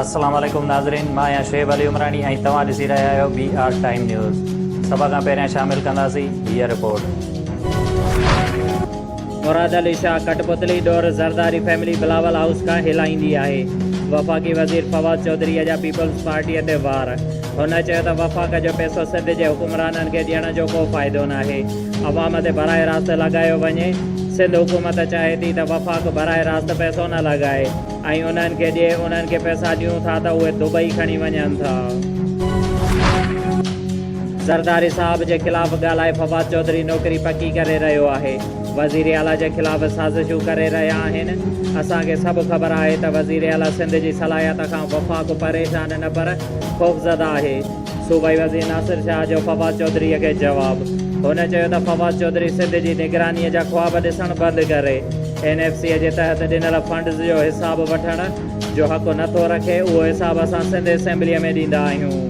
السلام عليڪم ناظرين مان آهيان شعيب علي عمراڻي ۽ توهان ڏسي رهيا آهيو بي آر ٽائيم نيوز سڀ کان پهريان شامل ڪنداسين هيء رپورٽ. مراد علي شاهه ڪٽپتلي ڏور زرداري فيملي بلاول هائوس کان هلائيندي آهي، وفاقي وزير فواد چوڌري اجها پيپلز پارٽي تي وار، هن چيو ته وفاق جو پيسو سنڌ جي حڪمرانن کي ڏيڻ جو ڪو فائدو ناهي. عوام تي براهه راست لڳايو وڃي، سنڌ حڪومت چاهي ٿي ته وفاق براهه راست پئسو نه لڳائي ۽ انهن کي جي انهن کي پئسا ڏيون ٿا ته اهي دبئي کڻي وڃن ٿا. زرداري صاحب جي خلاف ڳالهائي فواد چوڌري نوڪري پڪي ڪري رهيو آهي، وزير اعليٰ جي خلاف سازشون ڪري رهيا آهن، اسان کي سڀ خبر آهي ته وزير اعليٰ سنڌ جي صلاحيت کان وفاق پريشان نه پر خوفزده آهي. صوبائي وزير ناصر شاهه جو فواد چوڌري کي جواب، هن چيو ته فواد چوڌري سنڌ جي نگراني جا خواب ڏسڻ بند ڪري اين ايف سي جي تحت ڏنل فنڊز جو حساب وٺڻ جو حق نه ٿو رکي، اهو حساب اسان سنڌ اسيمبلي ۾ ڏيندا آهيون.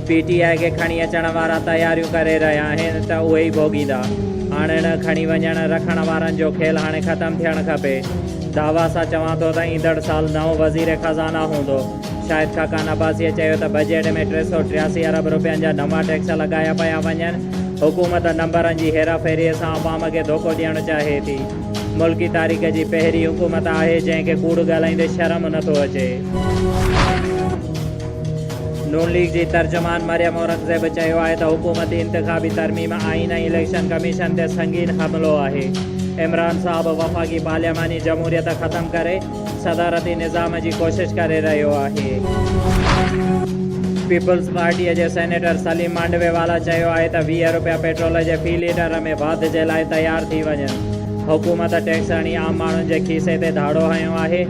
پي ٽي آء کي کڻي اچڻ وارا تياريون ڪري رهيا آهن ته اهي ئي ڀوڳيندا، آڻڻ، کڻي وڃڻ، رکڻ وارن جو کيل هاڻي ختم ٿيڻ کپي، دعويٰ سان چوان ٿو ته ايندڙ سال نئون وزير خزانه هوندو. شاهد خاقان عباسيء چيو ته بجيٽ ۾ ٽي سؤ ٽياسي ارب رپين جا نوان ٽيڪس لڳايا پيا وڃن، حڪومت نمبرن جي هيراڦيريء سان عوام کي ڌوڪو ڏيڻ چاهي ٿي، ملڪي تاريخ جي پهرين حڪومت آهي جنهن کي ڪوڙ ڳالهائيندي شرم نه ٿو اچي. نون ليگ جي ترجمان مريم اورنگزيب چيو آهي ته حڪومتي انتخابي ترميم آئين ۽ اليڪشن ڪميشن تي سنگين حملو آهي، عمران صاحب وفاقي پارلياماني جمهوريت ختم ڪري، صدارتي نظام جي ڪوشش ڪري رهيو آهي. پيپلز پارٽيء جي سينيٽر سليم مانڊوي والا چيو آهي ته ويهه رپيا پيٽرول جي في ليٽر ۾ واڌ جي لاء تيار ٿي وڃن، حڪومت ٽيڪس هڻي عام ماڻهن جي کيسي تي ڌاڙو هنيو آهي،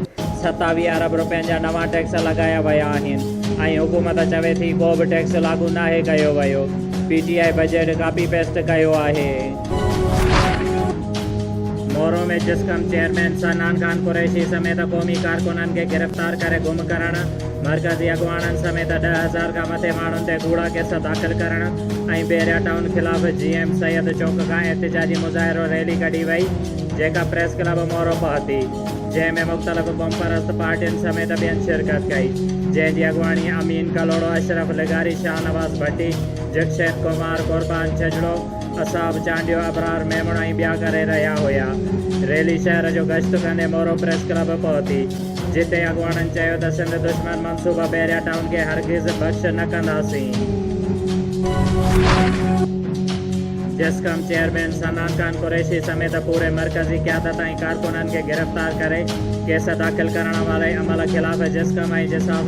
ستاويهه ارب رپين جا نوان ٽيڪس لڳايا ويا آهن ۽ حڪومت چوي ٿي ڪو به ٽيڪس لاڳو ناهي ڪيو ويو، P T I budget copy paste ڪيو آهي. مورو ۾ جسقم چيئرمين سنان خان قريشي سميت قومي ڪارڪنن کي گرفتار ڪري گم ڪرڻ، مرڪزي اڳواڻن سميت ڏهه هزار کان مٿي ماڻهن تي ڪوڙا ڪيس داخل ڪرڻ ۽ بحريا ٽائون خلاف جي ايم سيد چوڪ کان احتجاجي مظاهرو ريلي ڪڍي وئي جيڪا پريس ڪلب مورو پهتي جنهن ۾ مختلف قومپرست پارٽين سميت ٻين شرڪت ڪئي جنهن جي اڳواڻي امين ڪلهوڙو اشرف لغاري شاهنواز ڀٽي جڪشيت ڪمار قربان ڇڄڙو اصحاب چانڊيو، ابرار ميمڻ ۽ ٻيا ڪري رهيا هيا. ريلي شهر جو گشت ڪندي مورو پريس ڪلب پهتي، جتي اڳواڻن چيو ته سنڌ دشمن منصوبه بحريا ٽائون کي هرگز بخش نه ڪنداسين. جسقم چيئرمين صنعان خان قريشي سميت پوري مرڪزي قيادت ۽ ڪارڪنن کي گرفتار ڪري ڪيس داخل ڪرڻ واري عمل خلاف جسقم ۽ جساف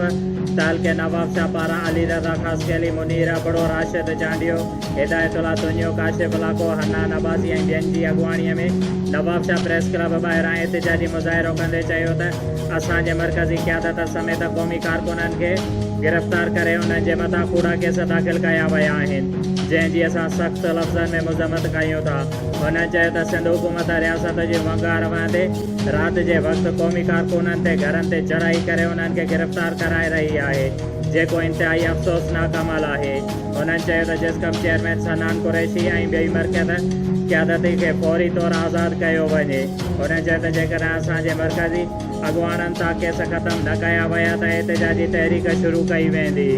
تعلقي نوابشاهه پاران علي رضا خاصخيلي، منير ابڙو، راشد چانڊيو، هدايت الله سوڃيو، ڪاشف الله ڪو، حنان عباسي ۽ ٻين جي اڳواڻيء ۾ نوابشاهه پريس ڪلب ٻاهران احتجاجي مظاهرو ڪندي چيو ته اسان جي مرڪزي قيادت سميت قومي ڪارڪنن کي گرفتار ڪري انهن جي مٿان ڪوڙا ڪيس داخل ڪيا ويا آهن جنهن جي اسان سخت لفظن ۾ مذمت ڪيون ٿا. هنن چيو ته سنڌ حڪومت رياست جي ونگار وهندي رات جي وقت قومي ڪارڪنن تي گهرن تي چڙهائي ڪري انهن کي گرفتار ڪرائي رهي آهي جيڪو انتهائي افسوسناڪ عمل آهي. هنن چيو ته جسقم چيئرمين سنان قريشي ۽ ٻئي مرڪز قيادت کي فوري طور آزاد ڪيو وڃي. هنن چيو ته جيڪڏهن اسان جي مرڪزي اڳواڻن تان ڪيس ختم نه ڪيا ويا ته احتجاجي تحريڪ شروع ڪئي ويندي.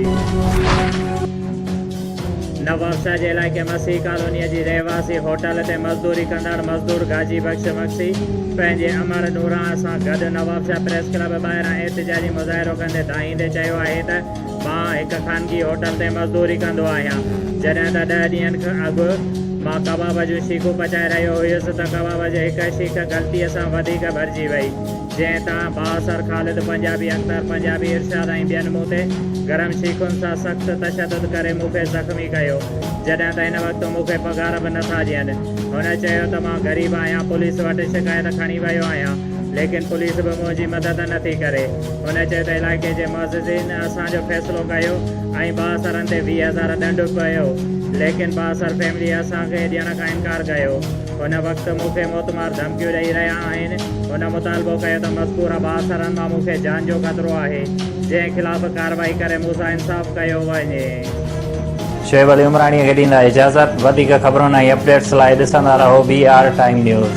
نوابشاهه جي علائقي مسيح ڪالونيء جي رهواسي هوٽل تي مزدوري ڪندڙ مزدور گاجي بخش مگسي پنهنجي امڙ نوراڻ سان گڏ نوابشاهه پريس ڪلب ٻاهران احتجاجي مظاهرو ڪندي دانهيندي چيو آهي ته مان هڪ خانگي هوٽل تي مزدوري ڪندو آهيان. جڏهن ته ڏهه ڏينهن کن اڳ مان ڪباب جون شيخون پچائي رهيو هيس ته ڪباب جي هڪ شيخ غلطيء سان وڌيڪ ڀرجي وئي، جنهن تان بااثر خالد پنجابي، اختر پنجابي، ارشاد ۽ ٻين مون تي گرم شيخن سان سخت تشدد ڪري مون کي زخمي ڪيو، جڏهن ته هن وقت مون کي پگهار به نٿا ڏين. هن چيو ته مان غريب آهيان، پوليس وٽ شڪايت کڻي ويو آهيان. ليڪن پوليس به منهنجي مدد نه ٿي ڪري. هن چيو ته علائقي جي معززين اسان جو فيصلو ڪيو ۽ بااثرن تي ويهه هزار ڏنڊ به پيو، ليڪن بااثر فيملي اسان کي ڏيڻ کان انڪار ڪيو. هن وقت مون کي موتمار ڌمڪيون ڏئي رهيا آهن. هن مطالبو ڪيو ته مذڪوره بااثرن مان مون کي جان جو خطرو آهي، جنهن خلاف ڪارروائي ڪري مون سان انصاف ڪيو وڃي. شعيب علي عمراڻيء کي ڏيندا اجازت. وڌيڪ خبرن ۽ اپڊيٽس لاء ڏسندا رهو بي آر ٽائيم نيوز.